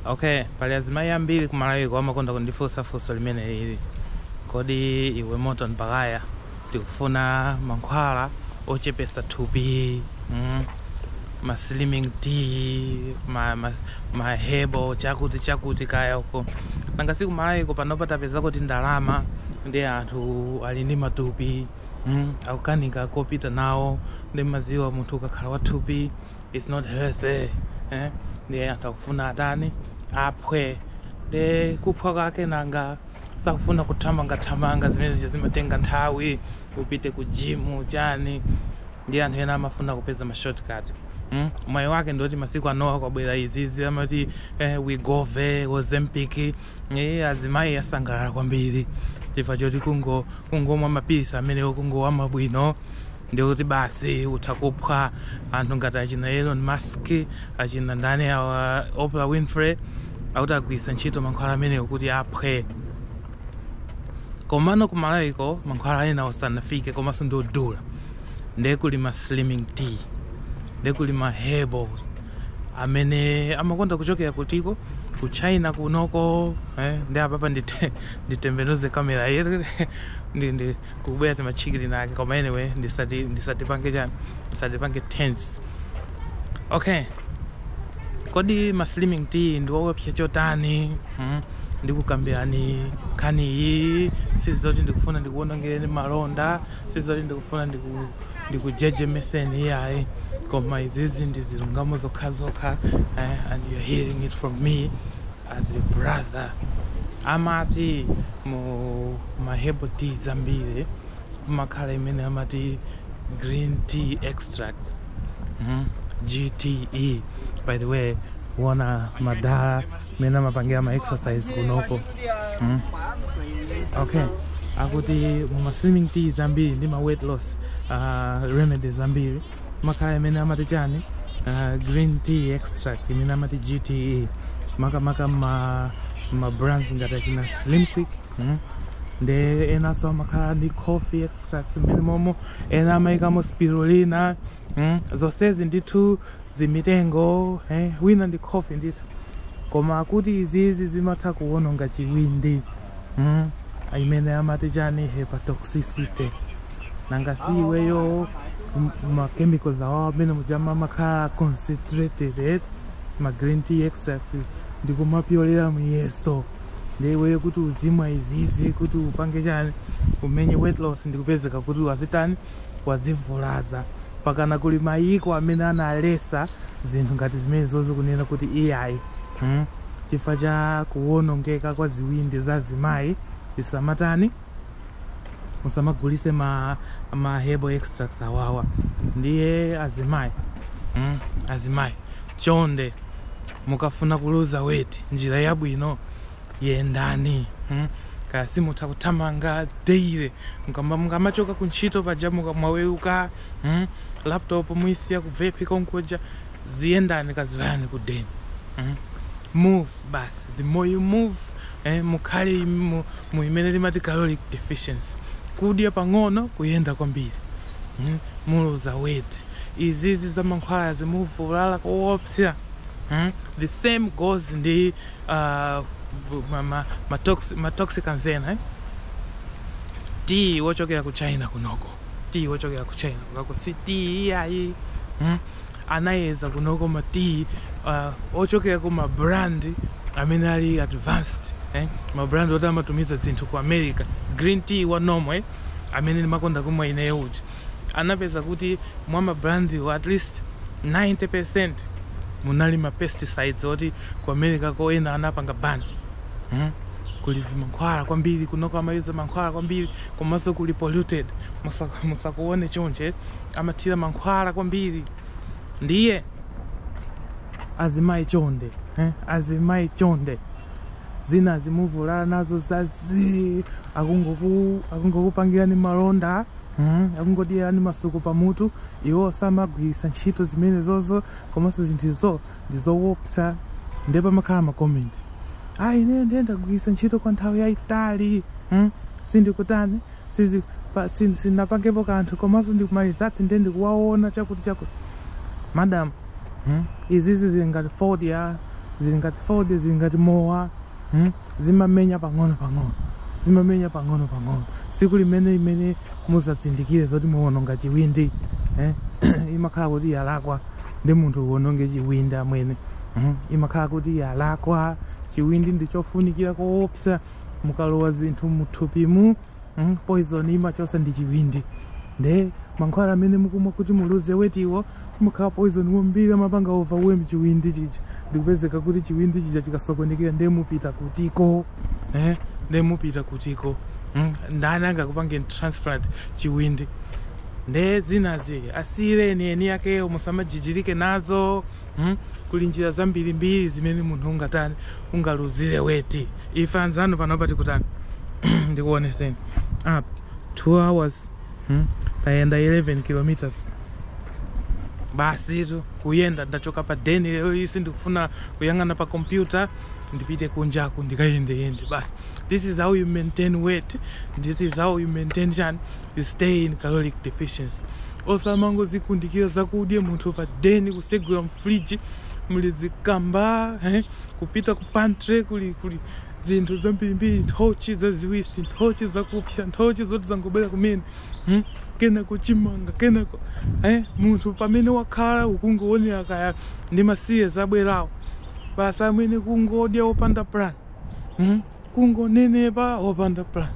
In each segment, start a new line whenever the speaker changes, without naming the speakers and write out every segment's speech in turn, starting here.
Okay, pali azimayi ambiri kumalawiko amakonda kundifunsa funso limene ili kodi iwe Morton Baghaya tikufuna mankhwala ochepesa thupi mm, ma slimming tea ma, ma, ma herbal chakuti chakuti kaya uko nanga si kumalawiko panopa tapeza kuti ndalama ndi anthu ali ndi matupi mm, akukanika kopita nawo ndi mmadziwa munthu ukakhala wathupi it's not healthy eh? ndiye anthu akufuna atani aphwe nde kuphwa kwake nanga sakufuna kuthamangathamanga zimene zija zimatenga nthawi upite ku jimu chani nde anthu ena amafuna kupeza ma shortcut mm? mwayi wake ndioti masiku anowa kwabwera izizi amati eh, Wegovy Ozempic eh, azimayi asangalala kwambiri chifukwa choti kungo kungomwa mapilisi amenewo kungowamwa bwino ndiye kuti basi utha kuphwa anthu ngati achina Elon Musk achina ndani awa Oprah Winfrey akuti agwiritsa ntchito mankhwala amenewo kuti aphwe komano ku Malawiko mankhwala amenewa sanafike komanso ndi odula ndiye kuli ma slimming tea ndiye kuli ma herbals amene amakonda kuchokera kuti uko ku China kunoko eh, nde apapa ndite- nditembenuze kamera yere ndi ndi kukubwera timatchikiri take koma anyway ndisati ndisatipange chani ndisatipange tense okay kodi ma slimming tea ndi owopsa chotani hmm? ndikukambirani nkhani iyi sizoti ndikufuna ndikuwonongereni malonda sizoti ndikufuna ndiku- ndikujejemeseni iyayi koma izizi ndi zilungamo zokhazokha eh, and you're hearing it from me as a brother amati mu ma herbal tea zambiri mumakhala imene amati green tea extract mm? gte by the way kuona madala mmene amapangira ma exercise kunoko mm? okay akuti mu ma slimming tea zambiri ndi ma weight loss uh, remedies zambiri mumakhala imene amati chani uh, green tea extract imene amati gte makamaka ma, ma brands ngati achina slim quick mm? nde enanso amakhala ndi coffee extract mmenemomo ena amayikamo spirulina mm? zonsezi ndithu zimitengo eh? wina ndi coffee ndithu koma akuti izizi zimatha kuwononga chiwindi Mm. imene amati chani hepatoxicity nanga si iweyo m- ma chemicals awawo amene mujama amakhala concentrated eh? ma green tea extracts ndikumapyolera muyeso ndiye iweyo kuti uzimwa izizi kuti upange chani umenye weight loss ndikupezeka kuti wazitani wazivulaza mpakana kuli mayiko amene analesa zinthu ngati zimenezozo kunena kuti iyayi mm? chifukwa cha kuwonongeka kwa ziwindi za azimayi zisamatani musamagulise ma, ma herbal extracts awawa ndiye azimayi mm, azimayi chonde mukafuna kuluza weight njira yabwino yendani mm. kaya simutha kuthamanga daily mukamba mukamachoka ku ntchito paja muka- mwaweruka mm. laptop muyisiya ku vepi konkuja ziyendani kazivayani ku den mm? move basi the more you move eh, mukhale mu, mu imene timati caloric deficiency kudya pang'ono kuyenda kwambiri mm? muluza weight izizi za mankhwalazi muvulala koopsa mm? the same goes ndi uh, ma, ma, ma, toxic, ma toxicants ena eh? tiyi wochokera ku china kunoko tiyi wochokera ku china kunoko si tiyi iyayi hmm? anayeza kunoko ma tiyi uh, ochokera ku ma brand amene ali advanced eh? ma brand oti amatumiza zinthu ku america green tea wa normal eh? amene ndimakonda kumwa ineyo uja anapeza kuti mwa ma brandiwo at least 90 percent munali ma pesticides oti ku americako ena anapanga ban hmm? kuli zimankhwala kwambiri kunoko amayuza mankhwala kwambiri komanso kuli polluted musakuone chonche amathira mankhwala kwambiri ndiye azimayi chonde eh? azimayi chonde zinazi muvulala nazo zazi akungokupangirani malonda mm, akungodyerani masuku pamutu iwo samagwiritsa ntchito zimenezozo komanso zinthuzo ndi zowopsa ndiye pamakhala makomenti ayi ineyo ndiye ndagwiritsa ntchito kwa nthawi yayitali hmm? sindikutani sizi pa- sin- sinapangepo kanthu komanso ndikumalizatsi ndiye ndikuwaona chakuti chakuti madam hmm? izizi zili ngati fodya zili ngati fodya zili ngati mowa hmm? zimamenya pang'ono pang'ono zimamenya pang'ono pang'ono tsiku limene limene muzazindikire zoti mwawononga chiwindi eh? imakhala kuti yalakwa ndi munthu uwononge chiwindi amwene mm? imakhala kuti yalakwa chiwindi ndichofunikira koopsa mukalowa zinthu muthupimu mm, poison imachosa ndi chiwindi nde mankhwala amene mukumwa kuti muluze wetiwo mumakhala poison wambiri amapanga overwhelm chiwindi chija ndikupezeka kuti chiwindi chija chikasokonekera nde mupita kutiko eh? nde mupita kutiko mm? ndani angakupangeni transplant chiwindi nde zinazi asiyireni eni akewo musamajijirike nazo Hmm kuli njira zambirimbiri zimene munthu ungatani ungaluzire weti ife anzanu panopa tikutani ndikuoneseni up 2 hours hmm? tayenda 11 kilometers basitu kuyenda ndachoka pa deni lero nsi ndikufuna kuyang'ana pa kompyuta ndipite kunjaku ndikayendeyende basi this is how you maintain weight this is how you maintain chani you stay in caloric deficiency Osamangodzikundikira zakudya munthu pa den kutsegula mfridge muli zikamba eh? kupita ku pantry kuli kuli zinthu zambirimbiri nthochi zaziwisi nthochi zakupsya nthochi zoti zangobwera kumene hmm? kenako chimanga kenako eh? munthu pamene wakhala ukungoonera kaya ndi ma series abwerawo basi amwene ukungodya opanda plan hmm? kungonenepa opanda plan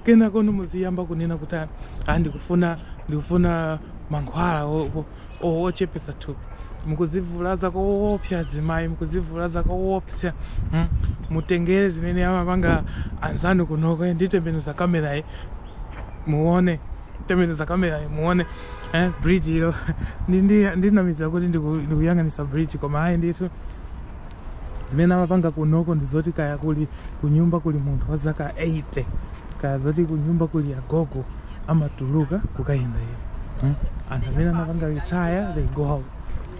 kenako muziyamba kunena kuti "Ah, ah, ndikufuna ndikufuna mankhwala o- o- o- ochepesa thupi mukuzivulaza koopsa azimayi mukuzivulaza koopsa mm. mutengere zimene amapanga anzanu kunoko eh, nditembenuza kamerayi muone tembenuza kamerayi muone eh, bridge ilo Ndi- ndi- ndinamizira kuti ndiku- ndikuyang'anitsa bridge koma ayi ndithu zimene amapanga kunoko ndi zoti kaya kuli kunyumba kuli munthu wa zaka 80 kaya zoti kunyumba kuli agogo amatuluka kukayenda iyo hmm? anthu amene amapanga retire they go out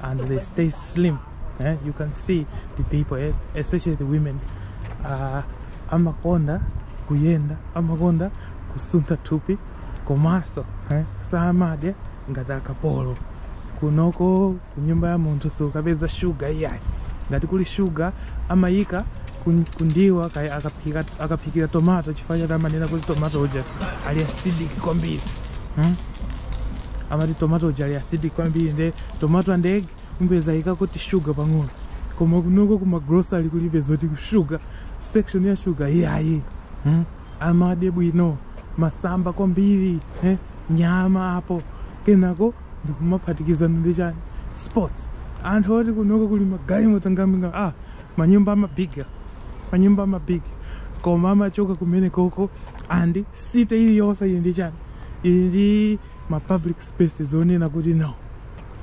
and they stay slim eh? you can see the people eh? especially the women uh, amakonda kuyenda amakonda kusuntha thupi komaso eh? samadya ngati akapolo kunoko kunyumba ya munthu sukapeza shuga iyayi ngati kuli shuga amayika kun- kundiwa kaya akaphika akaphikira tomato chifukwa choti amanena kuti tomato uja ali acidic kwambiri hmm? amati tomato uja ali acidic kwambiri nde tomato and egg umpeza yika kuti shuga pang'ono koma kunoko kuma grocery kulibe zoti shuga section ya shuga iyayi hmm? amadya bwino masamba kwambiri eh? nyama apo kenako ndikumaphatikizano ndi chani sports anthu oti kunoko kuli magalimoto amabiga ah manyumba amabiga manyumba amabiga koma amachoka kumene koko and city iliyonse ili ndi chani ili ndi ma public spaces onena kuti no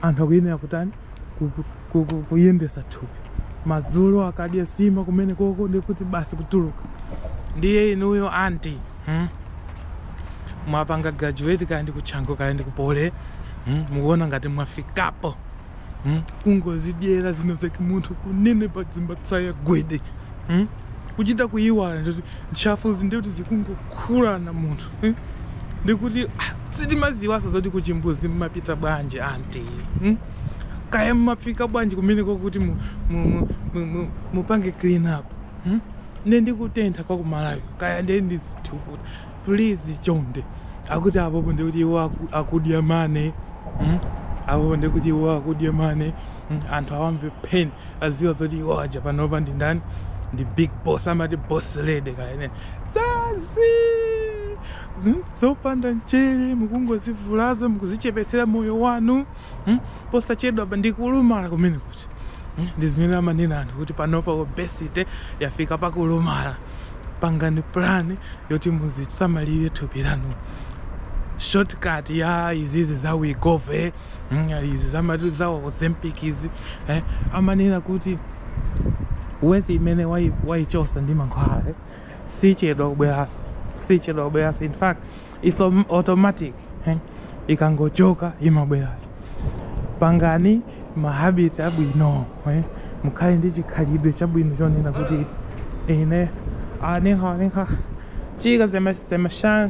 anthu akuyenera kutani kuku- kuku- kuyendesa thupi madzulo akadya sima kumene koko ndikuti basi kutuluka ndiye inuyo anti hmm? mwapanga graduate kaya ndi ku chanco kaya ndi ku poly hmm? mukuona ngati mwafikapo hmm? kungozidyera zina zake munthu kunenepa dzimatsaya gwede hmm? kuchita kuyiwala ndikuti ntchafuzi ndikuti zikungokhulana munthu mm? ndikuti ah, sitimaziwaso zoti kuchimbuzi mmapita bwanji anti mm? kaya mmafika bwanji kumeneko kuti mu, mu, mu, mu, mu, mupange clean up mm? nde ndikutentha kwa kumalawi kaya nde ndizithukuta please chonde akuti apopo ndikuti iwo aku- akudya money mm? apopo ndikuti iwo akudya money Hmm, anthu awamve pain aziwa zoti iwo aja panopa ndi ndani ndi big boss amati boss lady kaya zazii Zin- zopanda mchere mukungozivulaza mukuzichepetsera moyo wanu Hmm, posachedwapa ndikulumala kumene kuti Hmm, ndi zimene amanena anthu kuti panopa obesity yafika pakulumala pangani plan yoti muzisamalire thupi lanu shortcut ya izizi za wegovy mm, izi zamati za ozempic izi eh, amanena kuti weight imene wai- waichosa ndi mankhwala eh, sichedwa kubweranso sichedwa kubweranso in fact its om- automatic eh, ikangochoka imabweranso pangani mahabiti abwino eh, mukhale ndi chikhalidwe chabwino chonena kuti ine anyhow anyhow chika zemashan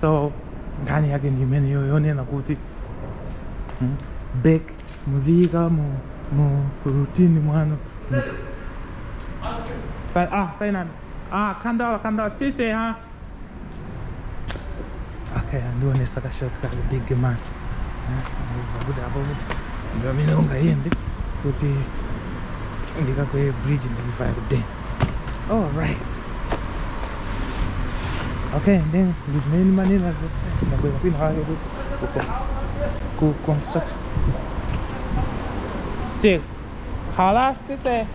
so nkhani yake ndi imeneyo yonena kuti hmm, back muziyika mu mu routine mwanu mu- Sa- ah sayinani ah khandala khandala sise ha okay andionesa kashortcut big man zakuti apo ndi pamene ungayende kuti ndikakweye bridge ndizivaya kudeni All right. Okay, and then this main money was the way we had to go construct. Still, Hala, sit there.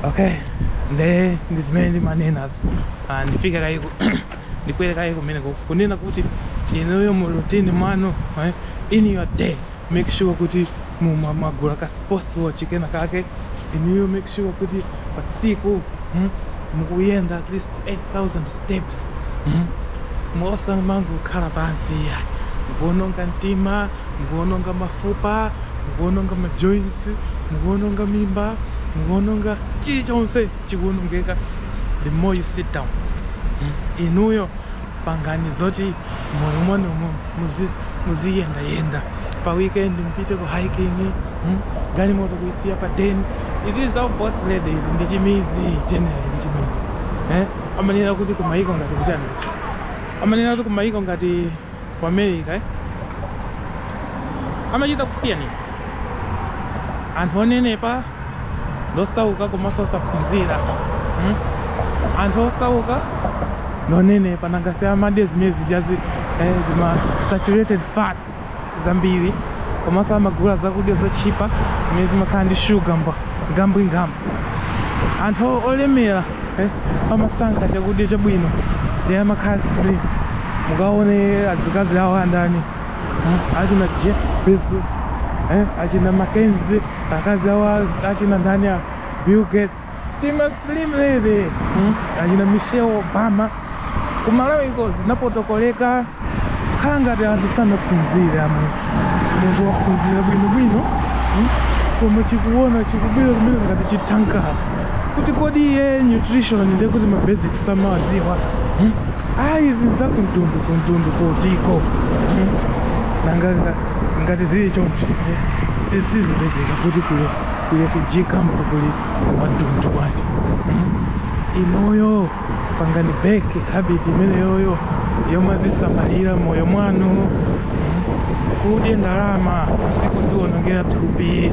Okay, then this main money was and figure I ndikuyerekayeko mene kunena kuti inuyo mu routine mwanu eh, in your day make sure kuti muma mwagula ka sports watch kena kake inuyo make sure kuti pa tsiku mm, mukuyenda at least 8000 steps mm. musamangokhala pansi iya mukuononga mtima mukuononga mafupa mukuononga majoints mukuononga mimba mukuononga chilichonse chikuonongeka the more you sit down mm. inuyo pangani zoti mmoyo mwanumo muziyendayenda pa weekend mupite ku hiking hmm? galimoto kuisiya pa den izi za boss lady izi ndi chimizi general ndi chimizi eh? amanena kuti kumayiko ngati kuchani amanena kuti kumayiko ngati ku america eh? amachita kusiyanisa anthu onenepa ndi osauka komanso osaphunzira hmm? anthu osauka ndi onenepa nanga si amadya zimene zijazi eh, zima saturated fats zambiri komanso amagula zakudya zotchipa zimene zimakhala ndi shuga mba ngambwingambwi anthu olemera eh, amasankha chakudya chabwino nde amakhala slim mukaone azikazi awo andani eh, achina Jeff Bezos eh, achina Mackenzie akazi awa achina ndani a Bill Gates tima slim lady hmm? achina Michelle Obama kumalawi iko zinapotokoleka khala ngati anthu sanaphunzire iwe munthu waphunzira bwinobwino hmm? koma chikuona chikubwera kumene ngati chithanki ya kuti kodi iye nutrition ndekuti ma basics samawadziwa hmm? ayi izi nzakuntundu kuntundu kotiko hmm? nanga ngati zili choncho eh? si zipezeka kuti kuli refugee camp kuli zimadundu bwanji hmm? inoyo pangani back habit imeneyoyo yomazisamalira moyo mwanu hmm? kudya ndalama sikuziwonongera thupi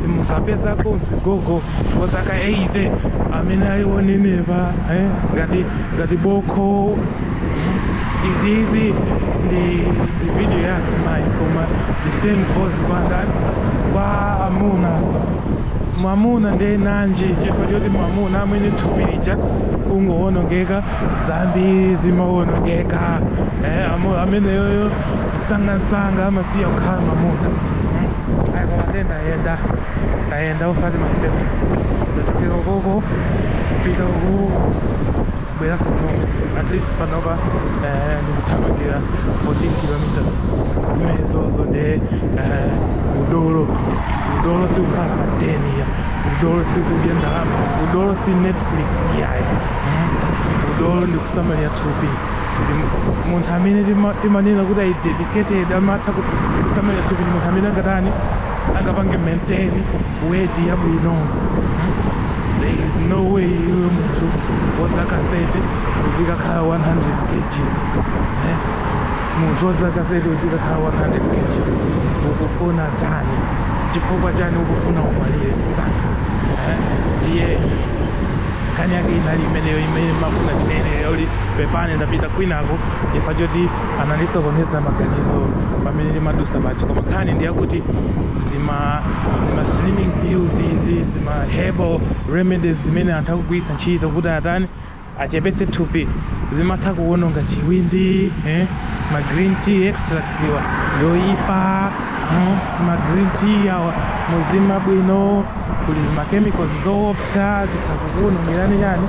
simuzapezako mzigogo wa zaka 80 amene ali wonenepa eh? ngati ngati bokho izizi ndi ndi video ya azimayi koma the same goes kwa ndani kwa amunanso mwamuna ndiye nanji chifukwa choti mwamuna amwene thupi lija kungowonongeka zambiri zimawonongeka eh, amu- ameneyoyo msangamsanga amasiya kukhala mwamuna Mm. ayi koma ndendayenda tayenda osati masitepe ndachokera ukoko kupita uku kubweranso kunoku at least panopa eh, ndikuthamangira 14 kilometers zimenezozo nde eh, udolo udolo sikukhala pa deni yayi udolo sikudya ndalama udolo si netflix yayi mm. udolo ndikusamalira thupi munthu amene tima- timanena kuti ayi dedicated amatha kus- kusamalira thupi ndi munthu amene angatani angapange maintain weight yabwino hmm? there is no way iwe munthu wa zaka 30 uzikakhala 100 kgs eh? munthu wa zaka 30 uzikakhala 100 kgs ukufuna chani chifukwa chani ukufuna umwalire msanga eh? ndiye nkhani yake inali imeneyo imene ndimafuna ndinene yoti pepani ndapita kwinako chifukwa choti anandisokoneza maganizo pamene ndimadusa paja koma nkhani ndi yakuti zima zima slimming pills izi zima herbal remedies zimene anthu akugwiritsa ntchito kuti atani achepetse thupi zimatha kuwononga chiwindi eh? ma green tea extracts awa oyipa mm? ma green tea awa muziona bwino kuli zima chemicals zoopsa zitha kukuwonongerani chani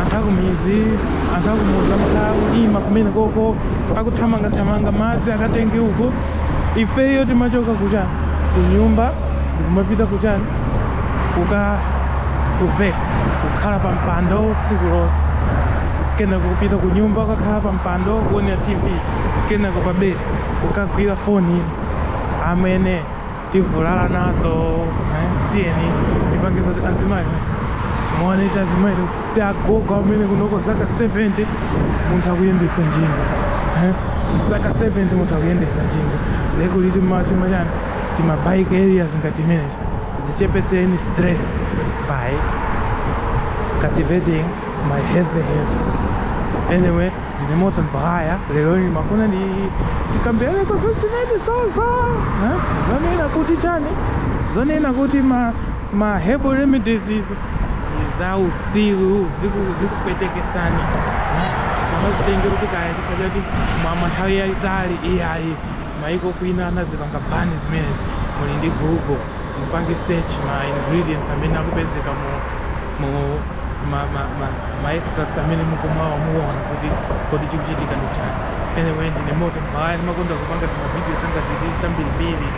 anthu akumudzi anthu akumudzi amakhala akulima kumene kuja akuthamangathamanga madzi akatenge uko ifeyo timachoka kuchani kunyumba ndikumapita kuchani kuka kuve kukhala pa mpando tsiku lonse kenako kupita ku nyumba ukakhala pa mpando kuonera tv kenako pa bedi ukagwira foni amwene tivulala nazo eh, tiyeni tipange za kuti azimayi muone kuti azimayi kuti agogo amwene kunoko zaka 70 munthu akuyendetsa njinga eh, zaka 70 munthu akuyendetsa njinga lekuli tima chani tima chani timabike areas ngati imenechi zichepeseni stress by cultivating ma healthy habits anyway Ndine Morton Bahaya, lero ndimafuna kuti tikambiraneko za zimene zaza eh? zonena kuti chani zonena kuti ma, ma herbal remedies izi za usiru ziku- zikupweteketsani eh? zimatengera kuti kaya chifukwa choti mwamwa nthawi yayitali iyayi maiko ena anazipanga ban zimenezi muli ndi google mupange search ma ingredients amene akupezeka mu mu ma, ma, ma, ma extracts amene mukumwawa muona kuti kodi chikuchitika ndi chani anyway ndine Morton Bahaya ndimakonda kupanga timavidiyo tanga titi tambirimbiri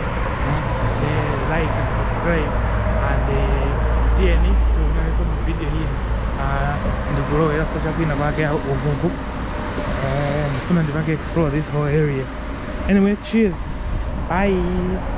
mm, eh, like and subscribe and eh, tiyeni tionanenso mu video ina Ah, ndikuloweranso chakwina kwake uvuku Eh, ndifuna ndipange explore this whole area anyway cheers bye